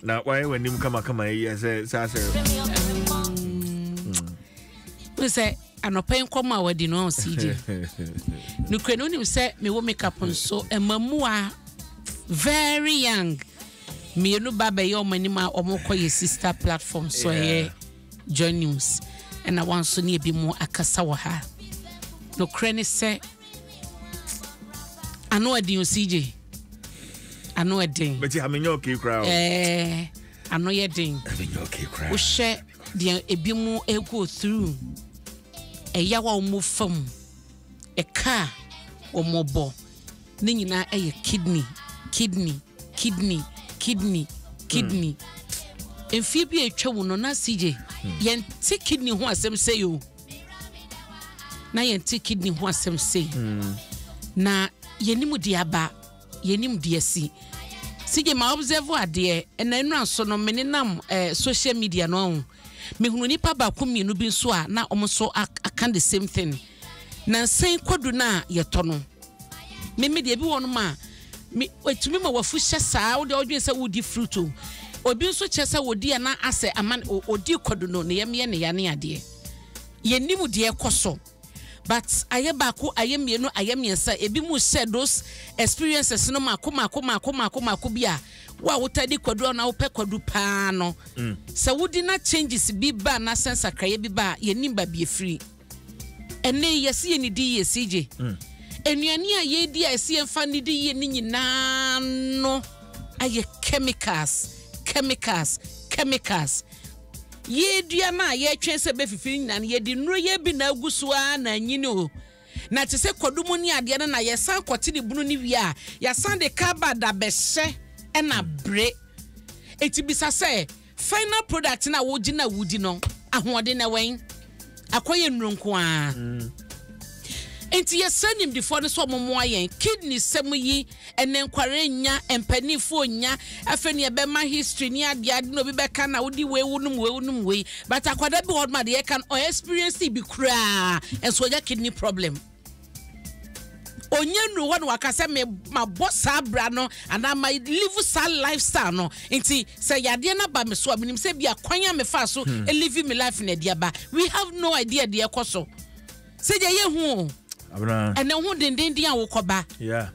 na wayɛ w'anim kamakama yi yɛ sɛ saa sɛ ne sɛ anɔpa yi nkɔm a wadi no ɔsi di nokura no wonim sɛ mewɔ makeup nso ɛma mua very young mmienu ba bɛyɛ ɔmo anim a ɔmo kɔ yɛ sister platform so ɛyɛ join news ɛna wɔn nso ne ebi mu akasa wɔ ha nokura ne sɛ ano ɛden o cj ano ɛden. bɛti ha mi nyɛ ɔkè kura o. ɛɛ ano yɛ den. ɛmi nyɛ ɔkè kura. wohyɛ deɛ ebi mu ego through ɛyaw a wɔn fa mu ɛka a wɔn bɔ ne nyinaa ɛyɛ kidney kidney kidney kidney kidney. Hmm. mfie bi a atwa mu no na cj hmm. yɛn ti kidney ho asɛm sɛ yoo. na yɛnte kidney ho asɛm sei hmm. na yɛnim deɛ aba yɛnim deɛ asi sigye ma observe adeɛ ɛna nnura nso no me nenam eh, social media no ho mehunu nipa baako mmienu bi nso a na wɔn nso aka the same thing na nsɛn kwadu no a yɛtɔ no Me me deɛ ebi wɔ nom a me etumi ma wafu hyɛ saa wo deɛ ɔdwen sɛ wodi fruit o obi nso kyɛ sɛ wodi a na asɛ ama o odi kɔdo no ne yam yɛ ne ya ne adeɛ yɛ nim deɛ kɔ so but ayɛ baako ayɛ mmienu ayɛ mmiɛnsa ebi mu hyɛ those experiences no mako mako mako mako mako bi a wo a wota di kɔdo a na wopɛ kɔdo paa no mm. sɛ wodi na changes bi ba na sɛ nsakraeɛ bi ba a yɛ nim ba bi efiri. Ɛnnɛ yi, yɛse yɛnnidi yie, CJ. Nnuane a yɛredi a ɛse yɛmfa nnidi yie no nyinaa no ayɛ chemicals, chemicals, chemicals. Yɛn aduan a yɛretwɛn sɛ ɛbɛfifi no nyinaa no, yɛde nnuro yɛ bi na agu so ara na anyini o. Na te sɛ kwadu mu ne adeɛ no na yɛsan kɔte ne bunu no wie a, yɛasan de carbad abɛhyɛ ɛna bere. Enti bisa sɛ, Final product na wogye na wodi no ahoɔden na wɛn akɔyɛ nnuro nko ara mm. nti yɛsɛ nimdifoɔ no sɛ ɔmomoa yɛn kidney sɛm yi ɛnɛ nkware nya mpanimfoɔ nya afei ne ɛbɛma history ne adeade na obi bɛka na wodi wei wonom wei wonom wei but akwada bi hɔ ma deɛ ɛka no ɔyɛ experience bi koraa ɛnso ɔnya kidney problem ɔnya nnuru hɔ na waka sɛ me mabɔ saa bra no anaa ma live saa lifestyle no nti sɛ yadeɛ no aba me so a menim sɛ bi akwan a mefaa so hmm. live me life na adi aba we have no idea deɛ ɛkɔ so sɛ deɛ yɛhu ɛnɛ ho dendenden a wokɔba yeah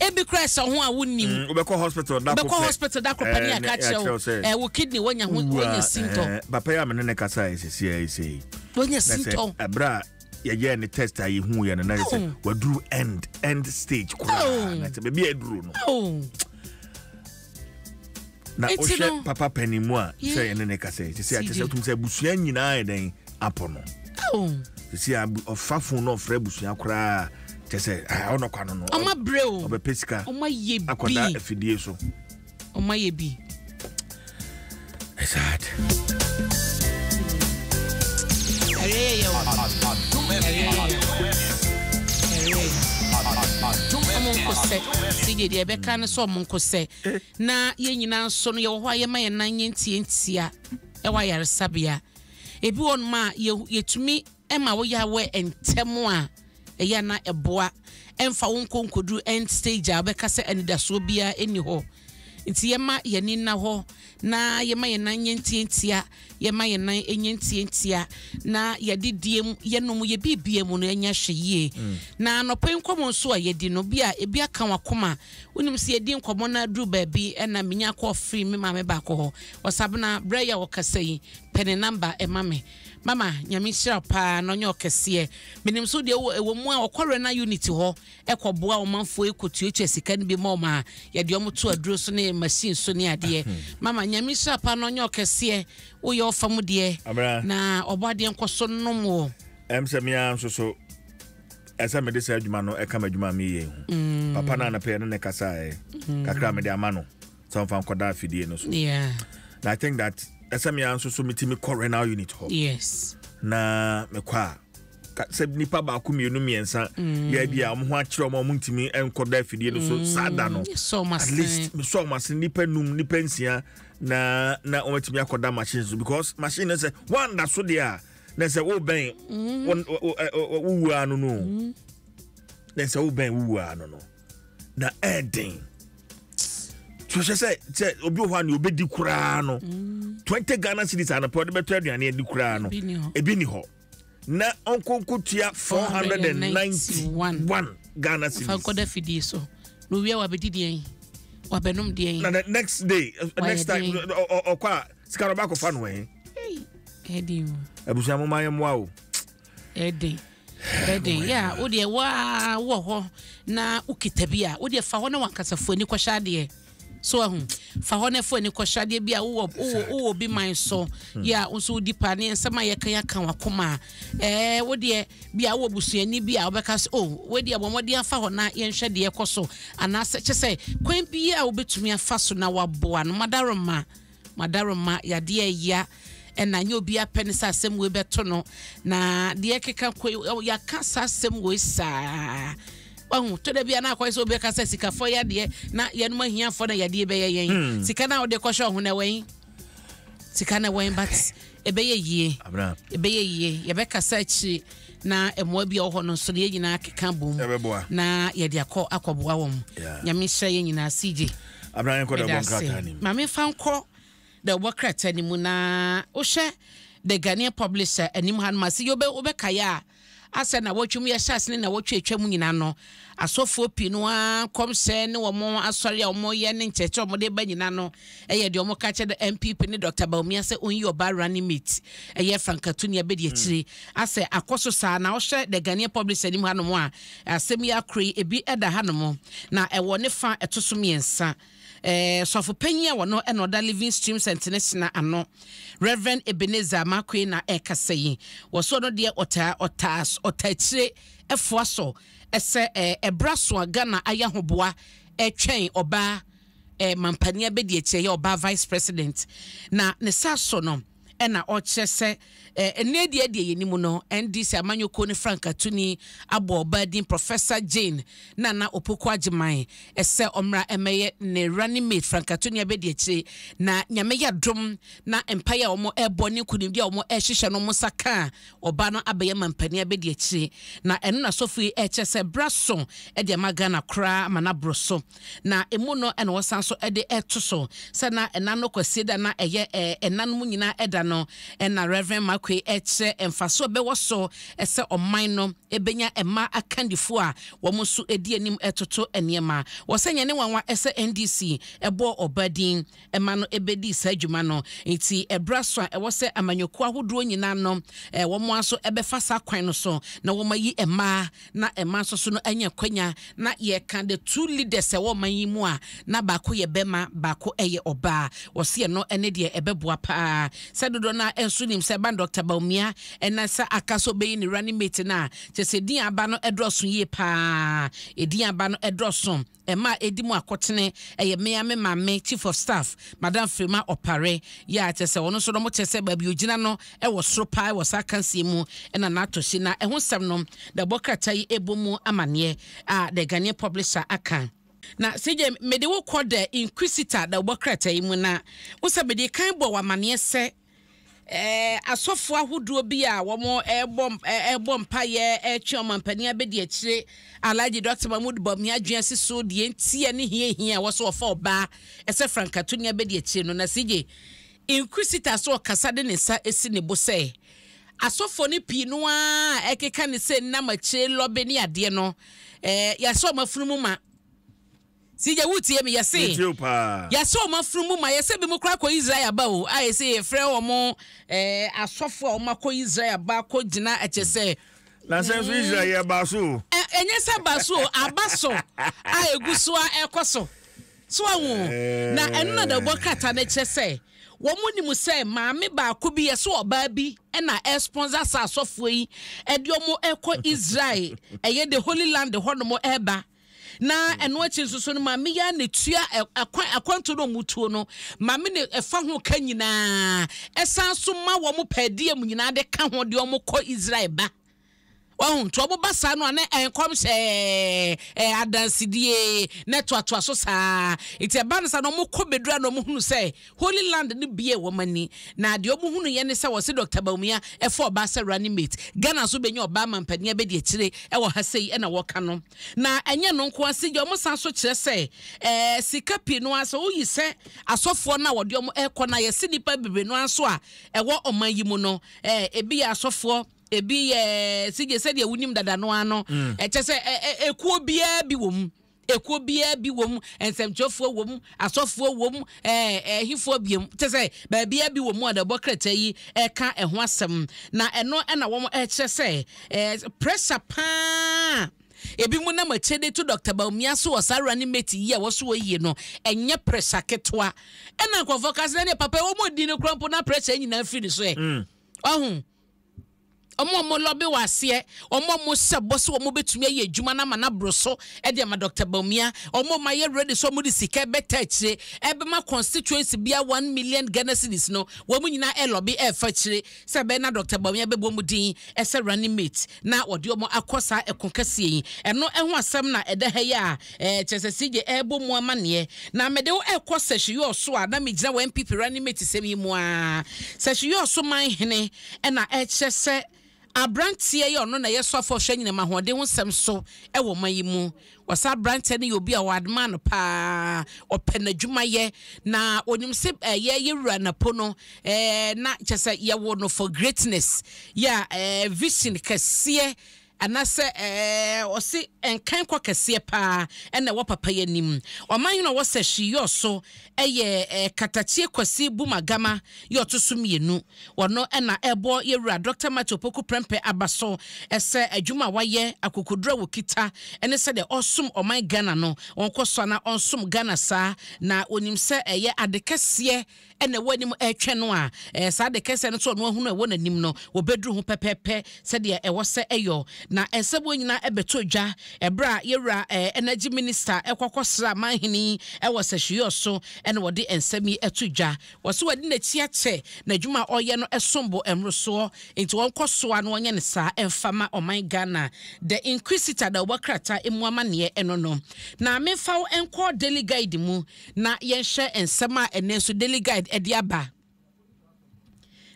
ebi kura ɛsɛ ho a wonnim mm, wobɛkɔ hospital da bɛkɔ hospital da kɔpɛ ne aka kyerɛ wo ɛ wo kidney wonya ho wonya sintɔ papa yi a mene ne kasa ɛsɛsi a ɛsɛ yi wonya sintɔ ɛberɛ a yɛyɛɛ ne test a yɛhuuɛ no na yɛ sɛ oh. waduru end end stage koraa oh. na sɛ baabi a ɛduru no oh. na wohwɛ papa pani mu a sɛ yɛne ne kasɛ ɛte sɛ akyɛ sɛ wotum sɛ abusua nyinaa yɛ dɛn apɔ no ɛsi ɔfa fon na ɔfrɛ abusua koraa kyɛ sɛ ɔnɔkwa no no ɔbɛpɛ sika akɔda afidie so Ɔma yɛ bi. Sad. Ɛyɛ yɛ yɛ o. Ɛyɛ yɛ yɛ. Ɛyɛ yɛ yɛ. Ɔmo nkosɛ. Si deɛ deɛ ɛbɛka no sɛ ɔmo nkosɛ. Na yɛn nyinaa nso no yɛwɔ hɔ a yɛma yɛn nan yɛn ntiantia ɛwɔ ayaresabea. Ebi wɔ nom a yɛtumi. Ɛma wo yɛ aware ntɛm a, ɛyɛ a na ɛboa. Ɛmfa wo nkɔ nkɔduru end stage a wobɛka sɛ anidasoɔ biara nni hɔ. Nti yɛmma yɛn ani nna hɔ, na yɛmma yɛn nan nyɛ ntiantia, yɛmma yɛn nan nyɛ ntiantia, na yɛde diem, yɛnom, yɛ biribiara mu no, ɛnyɛ hwɛ yie. Na anɔpa yi nkɔmmɔ nso a yɛadi no, bi a ebi aka w'akoma. Wonim sɛ yɛdi nkɔmmɔ na aduru baabi na menya kɔɔ free me maame baako hɔ, Ɔsabena, berɛ yi a wɔkasa yi, pɛ ne number ma me. Mama nyame nhyira wo paa na ɔnyɛ wo kɛseɛ. Menim so deɛ wowɔ ɛwɔ mu a wɔkɔ Rena unit hɔ ɛkɔ boa ɔmanfoɔ ɛkɔ tuatua sika no bi ma wɔn a yɛde wɔn to aduro so ne machine so ne adeɛ. Mama nyame nhyira paa na ɔnyɛ wo kɛseɛ. Woyɛ ɔfa mu deɛ Abena. na ɔbɔ adeɛ nkɔ so nom wo. Ɛm sɛ me ara nso so ɛsɛ mede saa adwuma no ɛka m'adwuma a meyɛ yi ho. Papa no a na pɛyɛ ne ne kasaeɛ kakra a mede ama no. sɛ wɔmfa nkɔda afidie no so yeah. na i think that ɛsɛ me ara nso so metumi kɔ renal unit hɔ yes. na mekɔ a sɛ nipa baako mmienu mmiɛnsa mm. yɛ bi a wɔn ho akyerɛ wɔn a wɔn ntumi nkɔda afidie no so mm. saa da no at least mesɔ wɔn ase nipa num nipa nsia na na wɔn atumi akɔda machine so because machine no sɛ wɔn da so deɛ a na sɛ wobɛn mm. wowuaa no no na sɛ wobɛn wowuaa no no na ɛyɛ den sohyɛ sɛ sɛ obi wɔ hɔ a nea obɛdi koraa no mm. twenty ghana cities anapɛ ɔde bɛtɔ aduane adi koraa no ebi ni hɔ na ɔnkonko tua four hundred and ninety one ghana cities. fankɔda fidie so na owia wabɛdi deɛ yi wabɛnom deɛ yi. na the next day uh, next time ɔkɔ a sika no ɔba akɔfa no ɛhe. ɛdi o. abusua mo maa yɛ mmoa o. Ɛden, ɛden, yɛ a wodeɛ waa wɔ hɔ na wokita bi a wodeɛ fa hɔ na wankasa fo ani kɔhyɛ adeɛ so ahu fa hɔ na fo ani kɔhyɛ adeɛ bi a wowɔ wowɔ wowɔ bi man so hmm. yɛ a nso wodi pa ne nsɛm a yɛka yɛka wakoma ɛɛ wodeɛ bi a wowɔ busuani bi a wobɛka so o oh, wodeɛ wɔn wɔde afa hɔ na yɛnhwɛ deɛ kɔ so anaasɛ kyɛ sɛ kwan bi a wobɛtumi afa so na waboa no madaroma Madaremma yadeɛ yea ɛna nyɛ obiara pɛ ne sɛ asɛm wei bɛto no na deɛ ɛkeka kɔ yi yɛaka saa asɛm wei saa wahu tɔ da bia na akɔyɛ sɛ obi ka sɛ sikafoɔ yadeɛ na yɛnom ahiafoɔ na yadeɛ bɛyɛ yɛn hmm. sika no a wode kɔhyɛ ɔho na ɛwɛn sika no ɛwɛn but Ɛbɛyɛ yie. Abena. Ɛbɛyɛ yie. Yɛbɛkasa akyiri na mmoa bi a ɔhɔ no nso no yɛn nyinaa keka bom. Ɛbɛboa. Na yɛde akɔ akɔboa wɔn. Yeah. Nyame nhyira yɛn nyinaa CJ. Abena yɛn kɔ dɛ bɔ nkrataa nim. Maame fa nkɔ dɛ bɔ krataa nim na wohwɛ the Ghanaian publisher anim ha no ma se yɛ wobɛkaeɛ a Asɛ nnawɔtwe mu yɛhyɛ ase ne nnawɔtwe a etwa mu nyinaa no, asɔfoɔ pii no ara nkɔmhyɛ ne wɔn asɔre a wɔyɛ ne nkyerɛkyerɛ a wɔde reba nyinaa no yɛ deɛ wɔka kyerɛ no NPP ne Doctor Bawumia sɛ ɔnyi ɔbaa running mate, ɛyɛ Frank Atuni abɛdi akyire. Asɛ akɔ so saa na wohwɛ The Ghanaian Publisher anim hanom a, asɛm yi akora yi, ebi da hanom na ɛwɔ ne fa a ɛto so mmiɛnsa. Sɔfo panyin a wɔno na ɔda Living Streams International ano, Rev. Ebenezer Markwei na ɛrekasa yi, wɔ so ɔno deɛ ɔtaa ɔtaa ɔtaa tire ɛfoa so ɛsɛ ɛbrɛ aso a Ghana ayɛ ahoboa ɛretwɛn ɔbaa mampanin abɛdi akyire ɛyɛ ɔbaa Vice President na ne saa so no, na ɔkyerɛ sɛ nnɛ deɛ deɛ yɛnim no, NDC amanyɔkuo no frankatuni abɔ ɔbaa din Professor Jane Nana Opoku Agyeman sɛ ɔmmra mmɛyɛ ne running mate frankatuni abɛdi akyire na nyame yɛ dom na mpaeɛ a wɔrebɔ ne nkunimdie a wɔrehyehyɛ no wɔn nsa ka a ɔbaa no abɛyɛ mampanin abɛdi akyire na ɛno na sɔfo yi ɛkyɛ sɛ bra so de ama Ghana koraa ama no aboro so Na emu no na wɔsan nso de to so sɛ na ɛna no Kwasiada na ɛyɛ ɛna no mu nyinaa ɛda no. Ɛna Rev. Markwei kyerɛ mfaso a ɛbɛwɔ so sɛ ɔman no bɛnya mmaa akandifoɔ a wɔn nso di anim toto nneɛma. Ɔsɛ ɛnyɛ ne nwanwa sɛ NDC bɔɔ ɔbaa din. ma no bɛdii saa dwuma no. Enti ɛberɛ aso a ɛwɔ sɛ amanyɔkuo ahodoɔ nyinaa no wɔn ara nso bɛfa saa kwan no so na wɔayi mmaa na mmaa nso so no anya akwanya na yɛka the two leaders ɛwɔ ɔman yi mu a na baako yɛ barima baako yɛ ɔbaa. Wɔse ɛno ne deɛ ɛbɛboa pa ara sɛ dodoɔ no ara nso nim sɛ ɛba no Doctor Bawumia na sɛ aka sɛ ɔbɛyi ne running mate no a kyerɛ sɛ ɛdin a aba no dɔɔso yie pa ara, ɛdin a aba no dɔɔso. Mma a edi mu akotene yɛ me ara me maame Chief of Staff, Madam Frema Opare. Yeah, kyerɛ sɛ ɔno nso no, mokyerɛ sɛ baabi ogyina no wɔ soro paa wɔ saa akansie mu na n'atɔhye. Na ɛho nsɛm no, na ɛbɔ krataa yi ɛbɔ mu amaneɛ a The Ghanaian Publisher aka. Na CJ, mede wo kɔ The Inquisitor na ɛbɔ krataa yi mu na wo sɛ mede kan bɔɔ wo amaneɛ sɛ. Ɛɛ, asɔfoɔ ahodoɔ bi a wɔn ɛɛbɔ ɛɛbɔ mpaeɛ ɛɛtwe ɔmanpanin abɛdi akyire, Alhaji Dɔkta Mahmood Bawumia adwene asi so deɛ nti ɛne hia a ɛhia a ɛwɔ sɛ wɔfa ɔbaa ɛsɛ frankatoni abɛdi akyire no. Na CJ Inquisitor so ɔkasa de ne nsa asi ne bo sɛ, Asɔfoɔ no pii no ara a ɛkeka ne sɛ nnam akyire lɔbe ne adeɛ no, ɛɛ, yɛasɔ wɔn afunumu ma. Sigya wotie me yɛse yɛse wɔn afunumu ma yɛse bi mo kora kɔ Israel aba o a yɛse yɛfrɛ wɔn eh, asɔfo a wɔn akɔ Israel aba akɔ gyina ɛkyɛ sɛ na sɛ nso Israel yɛ ba so ɛnyɛ sɛ ba so aba so a egu so a ɛkɔ so so ahu na ɛno na dawubɔ krataa no kyerɛ sɛ wɔn nim sɛ maame baako bi yɛsɛ ɔbaa bi ɛna ɛsponsor saa asɔfoɔ yi ɛde wɔn ɛkɔ Israel ɛyɛ the Holy Land hɔ nom ɛba na ɛno akyi nso so no maame yi ara na etua akwan akwantuo na wɔn tuo no maame na ɛfa ho ka nyinaa ɛsan so ma wɔn pɛɛdeɛ mu nyinaa de ka ho deɛ wɔn kɔ israel ba wɔn nti wɔn ba saa no a na nkɔm hyɛ ɛɛ adansidie na ɛtoatoa so saa nti ɛba no saa na wɔn kɔ bedura na wɔn hunu sɛ. Holy Land no biee wɔn ani, na deɛ wɔn hunuiɛ ne sɛ wɔse Doctor Bawumia ɛfa ɔbaa sɛ running mate. Ghana nso bɛnya ɔbaa mampanin abɛdi akyire ɛwɔ ha sei ɛna wɔka no. Na ɛnyɛ ɛno nko ara, Sigya wɔn san so kyerɛ sɛ ɛɛ sika pii no ara sɛ woyi sɛ asɔfoɔ no a wɔde wɔn ɛkɔ no a yɛse nnipa bebree no ara nso a ɛwɔ ɔman yi mu no ɛɛ ebi yɛ asɔfoɔ, ebi yɛ Sigye sɛdeɛ wonim dada no ara no, ɛkyɛ sɛ ɛ ɛ ekuo biara bi wɔ mu. Ekuo biara bi wɔ mu, nsɛmtwerɛfoɔ wɔ mu, asɔfoɔ wɔ mu, ɛɛ ɛhefoɔ bie mu, kyɛ sɛ baabiara bi wɔ mu a na ɛbɔ krataa yi ɛka ɛho asɛm. Na ɛno na wɔn ɛkyerɛ sɛ ɛɛ pressure paa a ebinom nam akyire de to Dɔkta Bawumia so wɔ saa running mate yi a ɛwɔ so wɔ yie no, ɛnyɛ pressure ketewa. Ɛna nkorɔfoɔ ka sɛ na deɛ papa yi wɔn ɔdi no koraa mpo na pressure nyinaa firi ne so ɛ. Ɔho? Wɔn a wɔlɔbe wɔ aseɛ, wɔn a wɔhyɛ bɔ sɛ wɔn bɛtumi ayɛ adwuma no ama no aboro so de ama Dɔkta Bawumia, wɔn a wɔayɛ ready sɛ wɔde sika ɛbɛtaa akyire ɛbɛma constituency biara one million Ghana cedis no, wɔn nyinaa ɛlɔbe ɛfa akyire sɛ ɛbɛyɛ na Dɔkta Bawumia bɛbɔ wɔn din sɛ running mate na wɔde wɔn akɔ saa ɛko kɛseɛ yi. Ɛno ho asɛm na ɛda ha yi a Eh, kyerɛ sɛ CJ ɛrebɔ mu amanneɛ. Na mede wo rekɔ Sɛhyeyoɔ so a na megyina wɔ NPP running mate sɛm yi mu ara. Sɛhyeyoɔ so man hene na ɛkyerɛ sɛ aberanteɛ yi a ɔno na ɛyɛ soafoɔ a ɔhwɛ anyinam ahoɔden ho nsɛm so wɔ ɔman yi mu. Wɔsɛ aberanteɛ no yɛ obi a wɔadmaa no pa ara, ɔpɛ n'adwumayɛ, na ɔnim sɛ eh, yɛ yɛ wura napo no eh, na kyerɛ sɛ yɛwo no for greatness. Yɛ eh, vision kɛseɛ Anasɛ ɔse nkan kɔ kɛseɛ paa na ɛwɔ papayɛ anim. Ɔman hene ɔwɔ sɛ hwee yɔ so yɛ Katakyie Kwasi Bumagama yɛ ɔto so mmienu. Ɔno na ɛbɔ yɛ wura Dɔkta Matthew Opoku Prɛmpɛ aba so sɛ adwuma a wayɛ, akokoduro a ɔkita ne sɛdeɛ ɔresom ɔman Ghana no, ɔnkɔ so ara na ɔnsom Ghana saa. Na ɔnim sɛ ɛyɛ ade kɛseɛ. na ɛwɔ anim retwɛn no a, ɛɛ, saa de kɛsɛ no so ɔno ahunu a ɛwɔ n'anim no, wɔbɛduru ho pɛpɛɛpɛ sɛdeɛ ɛwɔ sɛ ɛyɔ. Na ɛsɛ wɔn nyinaa bɛtɔ dwa. Ɛberɛ a yɛn Wura ɛɛ, Energy Minister kɔ akɔsra Manhene yi wɔ Sɛhweyɔɔ so na wɔde nsɛm yi to dwa. Wɔse wɔde n'akyi akyɛ, n'adwuma a ɔreyɛ no som bo mmorosoɔ, enti wɔnkɔ soa na wɔnyɛ no saa mfa ma ɔman Ghana. The Inquisitor da ɔbɔkrataa mu amanneɛ no no. Na memfa wo nkɔ Daily Guide mu. Na yɛnhwɛ nsɛm a ɛnnɛ nso Daily Guide de aba.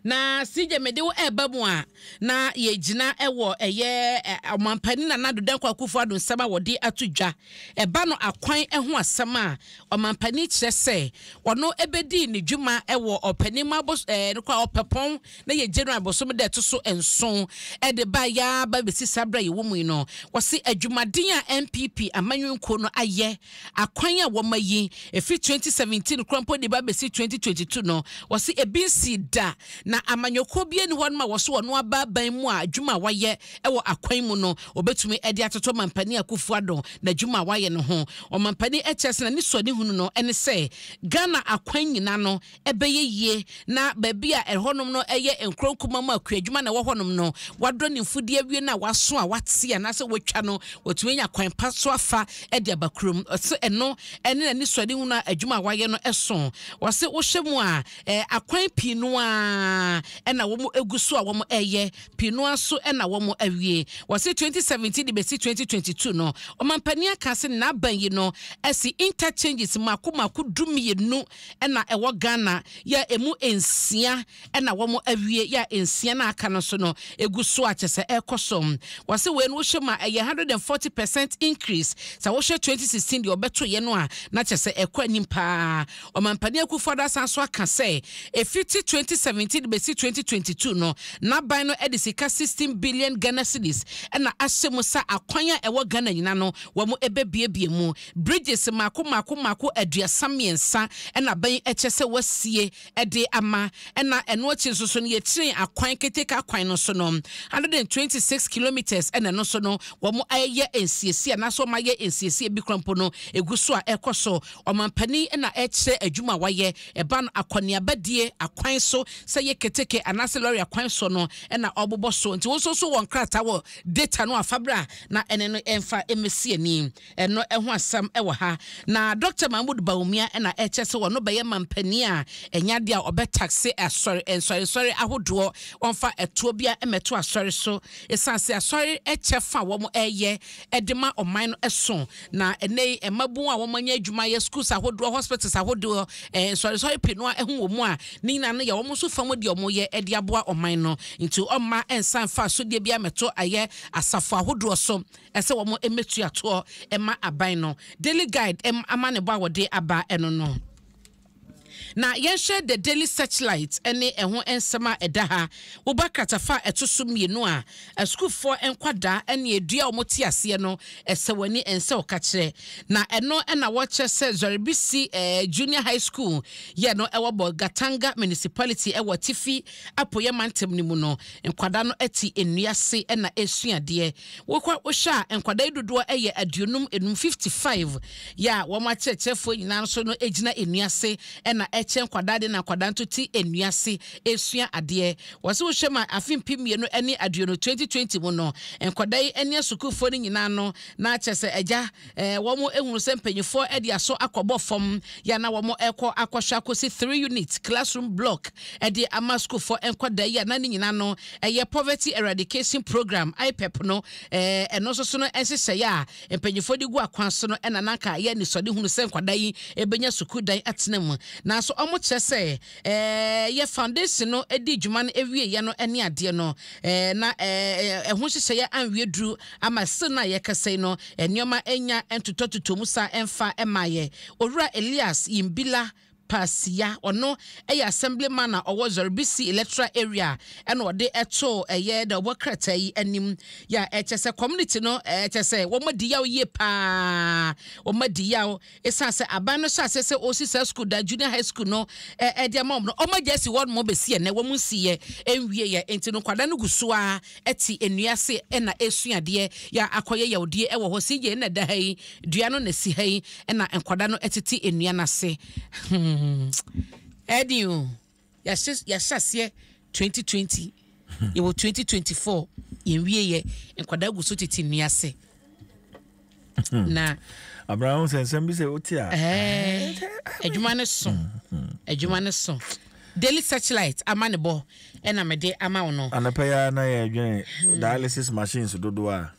Na CJ mede wo ɛreba mu a na yɛgyina wɔ ɛyɛ ɔmampanin Nana Addo Dankwa Akufo-Addo nsɛm a wɔde ato dwa. Ɛba no akwan ho asɛm a ɔmampanin kyerɛ sɛ ɔno bɛdii ne dwuma wɔ ɔpanin ma bos ɛɛ no kɔ ɔpɛpɔn na yɛ January bosom da ɛto so nson de ba yɛaba bɛsi saa berɛ a yɛwɔ mu yi no. Wɔse adwumaden a NPP amanyɔnkuo no ayɛ Akwan a wɔma yi, efi twenty seventeen koraa mpo de ba besi twenty twenty two no, wɔse ebi nsii da, na amanyɔkuo biara nni hɔnom a wɔse wɔno aba aban mu a adwuma a wɔayɛ wɔ akwan mu no wɔbetumi de atoto Ɔmampanin Akufo-Addo n'adwuma a wɔayɛ no ho. Ɔmampanin Ɛkyɛse na ne suadehunu no ne sɛ Ghana akwan nyina no ɛbɛyɛ yie na baabi a ɛhɔnom no yɛ nkuro nkumaa mu a kuadwuma na ɛwɔ hɔnom no, wɔadɔ ne mfudeɛ awie no a wɔaso a wɔate anaasɛ wɔatwa no, wɔatumi anya kwan pa so afa de aba kurom. Ɔse ɛno ne n'anisoadehunu a adwuma a wɔayɛ no so. Ɔse wohwɛ mu a, akwan pii no ara na wɔgu so a wɔreyɛ, pii no ara nso na wɔawie. Ɔse 2017 de bɛsi 2022 no, ɔmampanin aka sɛ n'aban yi no asi interchanges mmaako mmaako du mmienu na ɛwɔ Ghana yɛ a ɛmu nsia na wɔn awie yɛ a nsia no a aka no nso no ɛgu so a kyɛ sɛ ɛrekɔ so. Wɔse wei no wohwɛ mu a ɛyɛ 140 percent increase sɛ wohwɛ 2016 deɛ wɔbɛtoeɛ no a na kyɛ sɛ ɛrekɔ anim pa ara. Ɔmampanin Akuffo-Addo asan nso aka sɛ ɛfiti 2017 de bɛsi 2022 no n'aban no de sika 16 billion Ghana cedis na ahyɛ mu sɛ akwan a ɛwɔ Ghana nyina no wɔn bɛbuebue mu. Bridges mmaako mmaako mmaako aduasa mmiɛnsa na bɛn kyɛ sɛ wɔasie de ama, ɛna ɛno akyi nso so no yɛkyeree akwan keteke akwan no so no, hundred and twenty six kilometres na ɛno nso no wɔayɛ nsiesie anaasɛ wɔayɛ nsiesie bi kora mpo no ɛgu so a ɛrekɔ so. Ɔmampanin na ɛrekyerɛ adwuma a wɔayɛ ɛba no akɔneabadie akwan so sɛ ɛyɛ keteke anaasɛ lɔre akwan soɔ no na ɔrebobɔ so nti wo nso so wɔ nkrataa wɔ data no a fa bra na ɛne no ɛmfa mmɛsi ani. Ɛno ho asɛm wɔ ha. Na Dɔkta Mahmood Bawumia na ɛkyɛ sɛ ɔno bɛyɛ manpanin a ɛnyɛ adeɛ a ɔbɛ taxe asɔre nsɔresɔre ahodoɔ ɔmfa ɛtoɔ biara mmɛto asɔre so ɛsiane sɛ asɔre kyɛ fa a wɔn ɛyɛ de ma ɔman no so na ɛnɛ yi mmabun a wɔn anya adwuma yɛ schools ahodoɔ hospitals ahodoɔ nsɔresɔre pii no a ɛho wɔ mu a ne nyinaa no yɛ wɔn nso fa mu deɛ wɔn yɛ de aboa ɔman no nti ɔmma ɛnsa mfa asodie biara mmɛto ayɛ asafo ahodoɔ so. ɛsɛ wɔn mmɛtua toɔ mma aban no, Daily Guide ɛm amanebɔ a wɔde aba ɛno no. Na yɛnhwɛ The Daily Searchlight ɛne ɛho nsɛm a ɛda ha. Woba kratafa a ɛto so mmienu a, asukuufoɔ nkwadaa ɛne ɛdua a wɔn te aseɛ no, ɛsɛ wɔn ani ɛnsɛ ɔkakyerɛ. Na ɛno ɛna wɔkyerɛ sɛ Zwarebisi Junior High School yɛ no ɛwɔ bɔ Gatanga Municipality ɛwɔ Atifi Apueɛ Mantam no mu no, nkwadaa no ɛte nnua ase ɛna ɛresua adeɛ. Wokɔ wohwɛ a nkwadaa yi dodoɔ yɛ aduonum enum, fifty five, yɛ a wɔn akyerɛkyerɛfoɔ nyinaa nso no gyina nnua ase na ɛkyɛ nkwadaa adeɛ na nkwadaa nso te nnua ase resua adeɛ. Wɔse wohwɛ ma afe mpem mmienu ne aduonu, twenty twenty, mu no nkwadaa yi ne asukuufoɔ no nyinaa no na kyerɛ sɛ agya wɔhunu sɛ mpanimfoɔ de aso akɔbɔ fam yɛ a na wɔkɔ akɔhwɛ akɔsi three unit classroom block de ama sukuufoɔ nkwadaa yi a na ne nyinaa no ɛyɛ poverty eradication program IPEP no ɛno nso so no nhyehyɛeɛ a mpanimfoɔ de gu akwan so no ɛna nanka yɛ anisɔde hunu sɛ nkwadaa yi ɛbɛnya sukuu dan atena mu nanso wɔkyerɛ sɛ yɛ foundation no dii dwuma no awieɛ no ne adeɛ no, na ɛho nhyehyɛeɛ anwie duru ama still no a yɛkasa yi no nneɛma anya ntotɔtotɔ mu saa ɛmfa mmaeɛ. Owura Elias Yimbila Pasia, ɔno yɛ assembly man a ɔwɔ Zɔribisi electoral area na ɔde too ɛyɛ da ɔbɔ krataa yi anim yɛ a ɛkyɛ sɛ community no ɛkyɛ sɛ wɔn adi yaw yie paa, wɔn adi yaw Esiane sɛ aban no hyɛɛ aseɛ sɛ ɔresi saa sukuu da, Junior High School no, de ama wɔn no, wɔagya asi hɔ nom bɛsi ɛnnɛ. Wɔnsiiɛ nwieeɛ, enti no nkwadaa no gu so ara te nnua ase na ɛresua adeɛ. Yɛ akɔyɛ yawdie wɔ hɔ. Sei yei na ɛda ha yi, dua no na ɛsi ha yi na nkwadaa no tete nnua no ase. Hmm, ɛyɛ den o. Yɛahyɛ yɛahyɛ aseɛ twenty twenty yɛwɔ twenty twenty four yɛn wie yɛ nkwadaa gu so tete nnua ase hmm. na. abirana ho sɛ nsɛm bi sɛ o ti a. adwuma no so adwuma no so daily searchlight ama ne bɔ ɛna mede ama wo no. anapɛ ya na yɛ adwene hmm. dialysis machines dodoɔ a.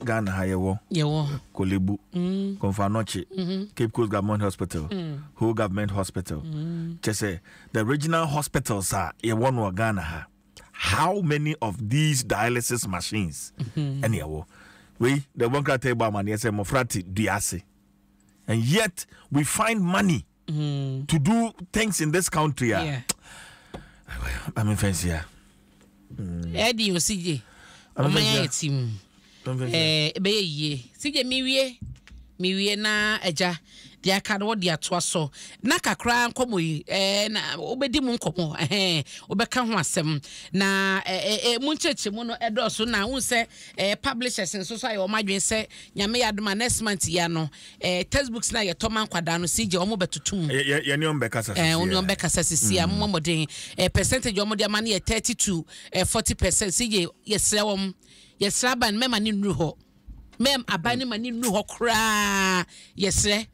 Ghana ha yɛwɔ. Yɛwɔ. Kolebu. Mm. Konfanɔkye. Mm -hmm. Cape Coast Government Hospital. Mm. Whole Government Hospital. Mm. Kyɛ sɛ the regional hospitals a yɛwɔ no wɔ Ghana ha how many of these dialysis machines mm-hmm. ɛne ɛwɔ wei the one krata ɛbɔ amaneɛ sɛ mmɔfra te dua ase and yet we find money mm. to do things in this country a yeah. mame mfɛnsi a ɛde osigye ɔma yɛ ayɛ ti mu ɛbɛyɛ yie sigye mewie mewie na agya deɛ aka no wɔde atoa so na kakra nkɔmmɔ yi ɛɛ na wobɛdi mu nkɔmmɔ ɛhɛn wobɛka ho asɛm na ɛɛ ɛɛ mu nkyɛnkyɛn mu no ɛdɔɔso na n sɛ ɛɛ publishers nso so ayɛ wɔn adwene sɛ nyame yɛ adoma next month yɛ ano Eh text books na yɛtɔ ma nkwadaa no CJ wɔn bɛ toto mu. Yɛ yɛ yɛne wɔn bɛ kasa sisi. Eh wɔn wɔn bɛ kasa sisi a mo mɔden. Eh percentage wɔn de ama no yɛ thirty to eh forty percent CJ yɛsrɛ wɔn yɛsrɛ aban mɛma ne nuru hɔ mɛm aban ne ma ne nuru hɔ koraa yɛsrɛ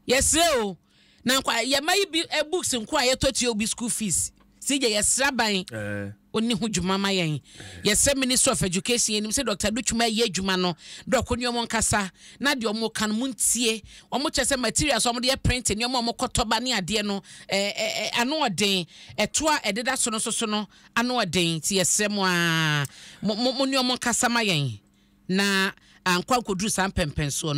yɛsrɛ o. na nkwa yɛ ma yi bi eh, books nko a yɛtɔ tua obi school fees si gye yɛ sraban eh. oni ho dwuma ma yɛn yɛ sɛ minister of education yɛn nim sɛ dr dutwuma yɛ adwuma no dɔko ni ɔmo nkasa na deɛ ɔmo kan mu ntie ɔmo kyɛ sɛ materials ɔmo de yɛ print ni ɔmo ɔmo kɔtɔ ba ne adeɛ no ɛɛ eh, ɛɛ eh, ano ɔden ɛto a ɛdeda so no soso no ano ɔden ti yɛ srɛ mo aa mo mo mo ni ɔmo nkasa ma yɛn na ankɔ ankɔduru saa mpɛmpɛnsoɔ no.